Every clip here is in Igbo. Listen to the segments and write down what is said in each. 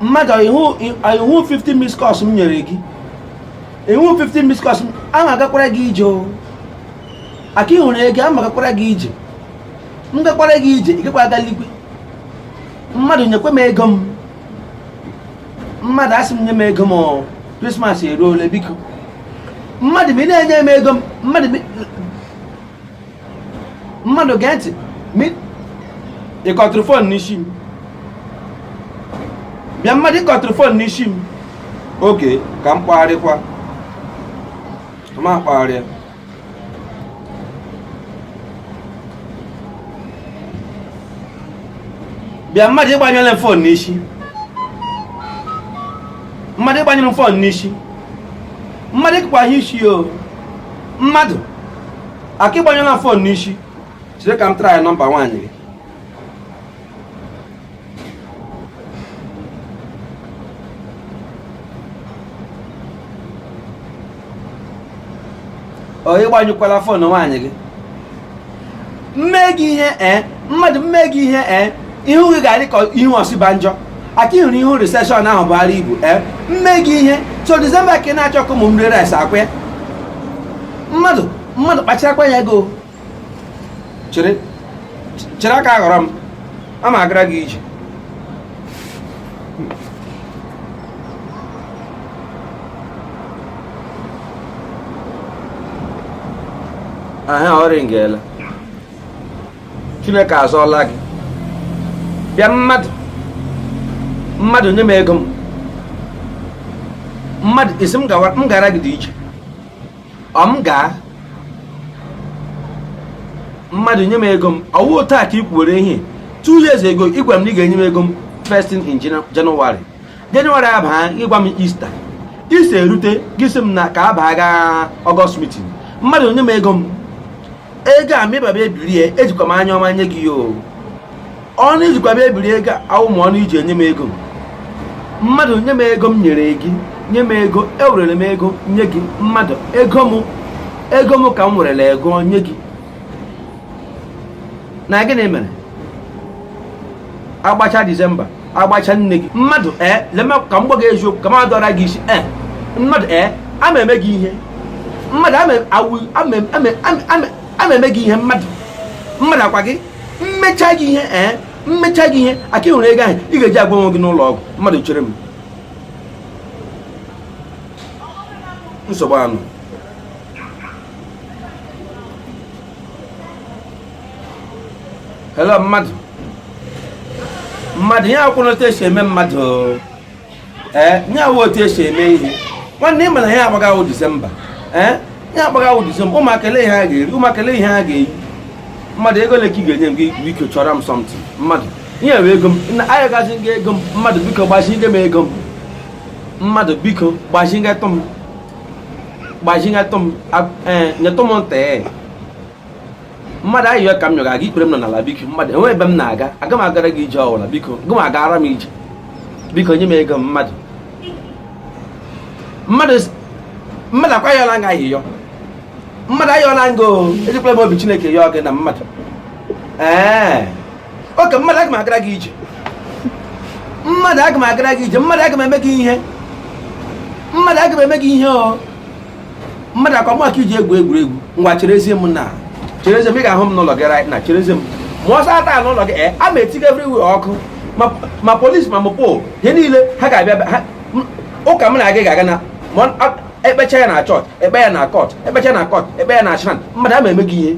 mmadụ ị hụ 50 miss calls m nyere gị ị hụ 50 miss calls a ma agakwara gị ije o aka ịhụrụ ego a ma agakwara gị ije m gakwara gị ije ị gakwa aga eligwe mmadụ nyekwa m ego m mmadụ asị m nye m ego m krismas eruola biko mmadụ ma ị na-enye m ego m mmadụ mmadụ gee ntị ị kọtụrụ fon n'isi m bịa mmadụ ị kọtụrụ fon n'isi m okay ka m kpọgharịkwa m kpọgharịa bịa mmadụ ị gbanyela m fon n'isi mmadụ ị gbanyere m fon n'isi mmadụ ịkpagha isi o mmadụ aka ị gbanyela fon n'isi chere ka m try nọmba nwaanyị gị ọ ị gbanyụkwala fon nwaanyị gị m mee gị ihe ee mmadụ m mee gị ihe ee ihu gị ga-adị ka ihu Osinbajo aka ị hụrụ ihu riseshọn ahụ Buhari bu ee m mee gị ihe so disemba ka ị na-achọ ka ụmụ m rie rice ọkwa ya mmadụ mmadụ kpacharakwa anya gị o chere chere aka aghọrọ m a ma agara gị ije aha ọ rịngela chineke azọọla gị bịa mmadụ mmadụ nye m ego m mmadụ ị sị m gara gị dị iche ọ m gaa mmadụ nye m ego m ọ wụ otu a ka ị kwuwere ihe two years ago ị gwara m na ị ga-enye m ego m first thing in January January abaa ị gwa m Easter Easter erute gị sị m na ka abaa gaa August meeting mmadụ nye m ego m ego a mịbaba ebirie ejikwa m anya ọma nye gị ya o ọnụ i jikwa bịa ebiri ego awụghị ọnụ i ji enye m ego mmadụ nye m ego m nyere gị nye m ego ewerere m ego nye gị mmadụ ego m ego m ka m werere ego nye gị na gịnị mere agbacha disemba agbacha New Year mmadụ ee eh, lema ka m gwa gị eziokwu ka m adọra gị isi ee eh, mmadụ ee eh, ama eme gị ihe mmadụ ama eme gị ihe mmadụ mmadụ ọkwa gị m mechaa gị ihe ee m mechaa gị ihe aka ị hụrụ ego ahụ ị ga-eji agwọ onwe gị n'ụlọ ọgwụ mmadụ chere m nsogbu anụ hello mmadụ mmadụ ihe a awụ otu e si eme mmadụ ee eh, ihe a awụ otu e si eme ihe nwanne ị ma na ihe a gbaga awụ disemba ee eh, ihe a gbaga awụ disemba ụmụaka ele ihe ha ga-eri ụmụaka ele ihe ha ga-eyi mmadụ ego ole ka ị ga-enye m gị biko chọrọ m something mmadụ ihe bụ ego m na m yọgazi gị ego m mmadụ biko gbazi gị m ego m mmadụ biko gbazi gị tụ m gbazi gị tụ m eh, nyetụ m ntị mmadụ ayịyọ ka m yọga gị ikpere m nọ n'ala biko mmadụ e nwee ebe m na-aga aga m agara gị ije ọwụla biko gị ma agara m ije biko nye m ego m mmadụ mmadụ mmadụ ọ kwa ayọla m gị ayịyọ mmadụ ayọla m gị o ejikwala m obi chineke yọọ gị na mmadụ ee okay mmadụ aga m agara gị ije mmadụ aga m agara gị ije mmadụ aga m eme gị ihe mmadụ aga m eme gị ihe o mmadụ ọ kwa m ka i ji egwu egwuregwu ngwa cherezie m na cherezie m ị ga-ahụ m n'ụlọ gị right now cherezie m ma ọsọ ata n'ụlọ gị eh, a ma etiga everywhere ọkụ ma polisi ma mopol ihe niile ha ga-abịa ụka m na-aga ga-aga na e kpechaa ya na chọọchị e kpee ya na kọt e kpechaa na kọt e kpee ya na shrine mmadụ ama eme gị ihe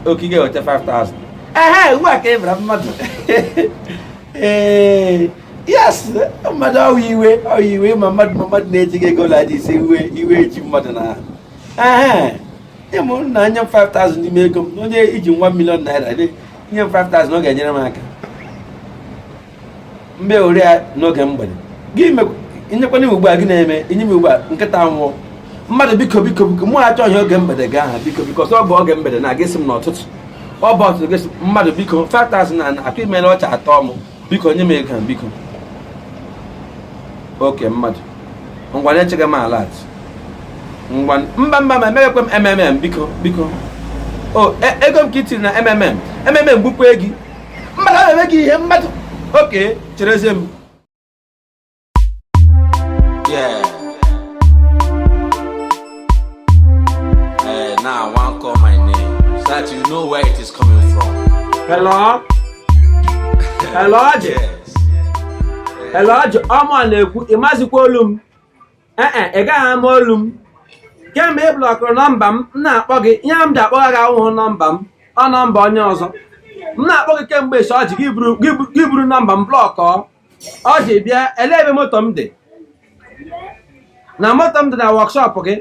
okige weta 5000 ehe ugbu a ka ị bara mmadụ ee yes mmadụ ọ wụ iwe ọ wụ iwe ma mmadụ ma mmadụ na-eji gị ego laji ise iwe iwe eji mmadụ na ọ wụ ịmụ na nye m 5000 n'ime ego m onye i ji one million naira nye m 5000 ọ ga-enyere m aka mgbe o ru ya n'oge mgbede gị nyekwanye m ugbu a gị na-eme inye m ugbu a nkịta nwụọ mmadụ biko biko biko mụ achọghị oge mgbede gị ahụ biko biko ọsọ ọ bụ oge mgbede na-aga asị m n'ọtụtụ ọ bụ ọtụtụ gị mmadụ biko 5000 na atụ imere ọcha atọ m biko nye m ego a biko okay mmadụ ngwanụ echeghe m alert ngwa mba mba ma emeghekwe m mmm biko biko o e, ego m ka i tiri na mmm mmm gbukwe gị mmadụ aga m eme gị ihe mmadụ okay cherezie m Yeah. Eh, now I want call my name so that you know where it is coming from. Hello? Hello, Ọjị? Yes. Hello, Ọjị? Ọ mụwa na-ekwu, ị mazikwa olu m? Ee e, ị gaghị ama olu m. Kemgbe ị blọkụrụ nọmba m, m na-akpọ gị, ihe m ji akpọgha gị awụhụ nọmba m, ọ nọmba onye ọzọ. M na-akpọ gị kemgbe esi Ọjị gị buru- gị bu- gị buru nọmba m blọkọọ. ọjị bịa ele ebe moto m dị na moto m dị na wọkshọp gị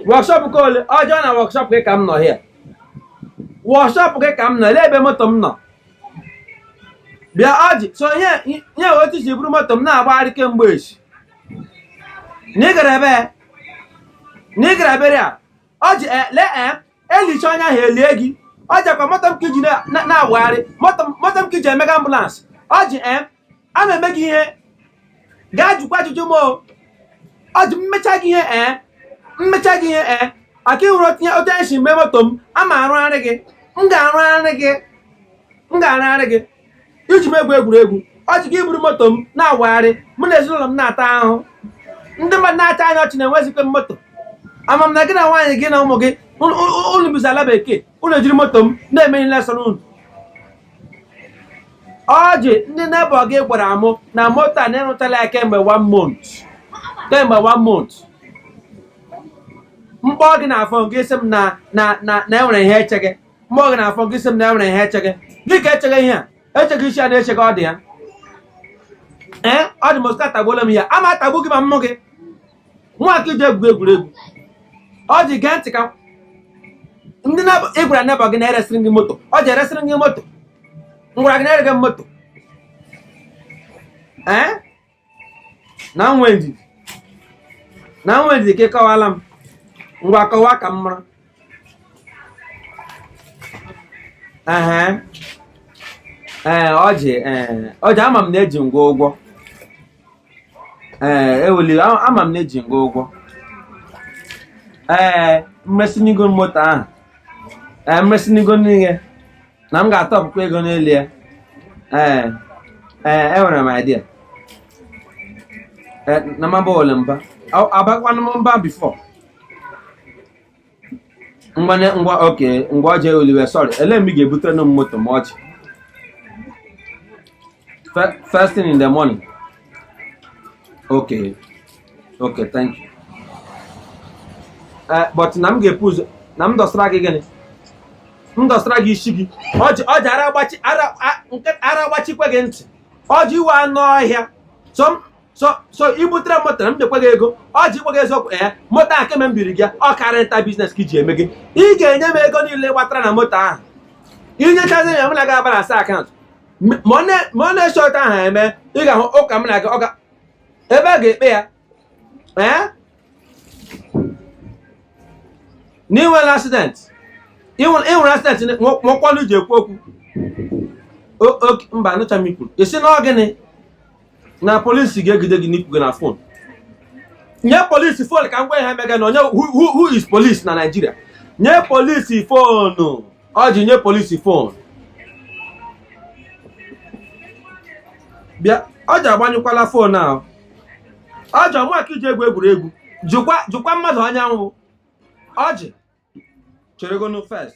wọkshọp ke ole ọjị na wọkshọp gị ka m nọ hịa wọkshọp gị ka m nọ ele ebe moto m nọ bịa ọjị so nye nye otu si buru moto m na-agbagharị kemgbe a sị na ị gara ebe na ị gara burial ọjị ele e elichaa onye ahụ elie gị ọjị ọkwa moto m ka i ji na- na- na-awagharị moto m- moto m ka i ji emega ambụlansị ọjị ee ama m eme gị ihe gaa jụkwa ajụjụ m o ọjị mmecha gị ihe ee mmecha gị ihe ee aka ịhụrụ otu anyị si mee moto m ama arụgharị gị m ga-arụgharị gị m ga-arụgharị gị i ji m egwu egwuregwu ọjị gị eburu moto m na-awagharị mụ na ezinụlọ m na-ata ahụhụ ndị mmadụ na-achị anyị ọchị na enwezighị m moto ama m na gị na nwaanyị gị na ụmụ gị unu bizi ala bekee unu ejiri moto m na-eme ihe na-asọ unu ọjị ndị nebọ gị gwara mụ na moto a na ị rụchala ya kemgbe one month kemgbe one month m kpọọ gị na fon gị sị m na na na na e nwere ihe e chege m kpọọ gị na fon gị sị m na e nwere ihe e chege gịnị ka e chege ihe e chege isi a na e chege ọjị ya ee ọjị moska atagbuola m ya ama atagbu gị ma mụ gịnwa ka i ji egwu egwuregwu ọjị gee ntị ka ndị na- ị gwara nebọ gị na e resịrị gị moto ọjị e resịrị gị moto m gwara gị na erege moto ee na nwee ndidi na nwee ndidi ka ị kọwaara m ngwa kọwaa ka m mara ehe ee ọjị ee ọjị ama m na eji m gị ụgwọ ee well a- ama m na eji m gị ụgwọ ee m resịnụ gị moto ahụ ee m resịnụ gị n'ihe na m ga-atụkwa ego n'elu ya ee ee enwere m idea Eh, na maba ole mba Ọ- abakwanụ m mba bifọ ngwa ne- ngwa oke ngwa ọjị oliwe sọrị ele mgbe ị ga-ebutere nụ m moto m echi Fe- first thing in the morning okay okay thank you eh, but na m ga-ebu ụzọ na m dọsara gị gịnị m dọsara gị isi gị ọjị ara agbachi ara agbachikwa gị ntị ọjị ị wụ anụ ọhịa so i butere moto na m nyekwa gị ego ọjị i kwughị eziokwu ee eh, moto ahụ kemgbe m biri gị ọ car rental biznes ka i ji emege ị ga-enye m ego niile ị kpatara na moto ahụ i nyechazi ya m na gị abalansịa akaụntụ ma ọ na-esi otu ahụ eme ị ga-ahụ ụka m na gị ọka ebe a ga-ekpe ya ee na i nwere accident i nwere accident nwekwa ọnụ ji ekwu okwu mba anụcha m ikwu ị sị na ọ gịnị na polisi ga-ejide gị na i kwuga na fon nye polisi fon ka m gwa ihe mega na onye who is polisi na naijiria nye polisi fonu ọjị nye polisi fon bịa ọjị agbanyụkwala fon ahụ ọjị ọ ụmụaka i ji egwu egwuregwu jụkwa mmadụ onye m wụ ọjị cheregonu first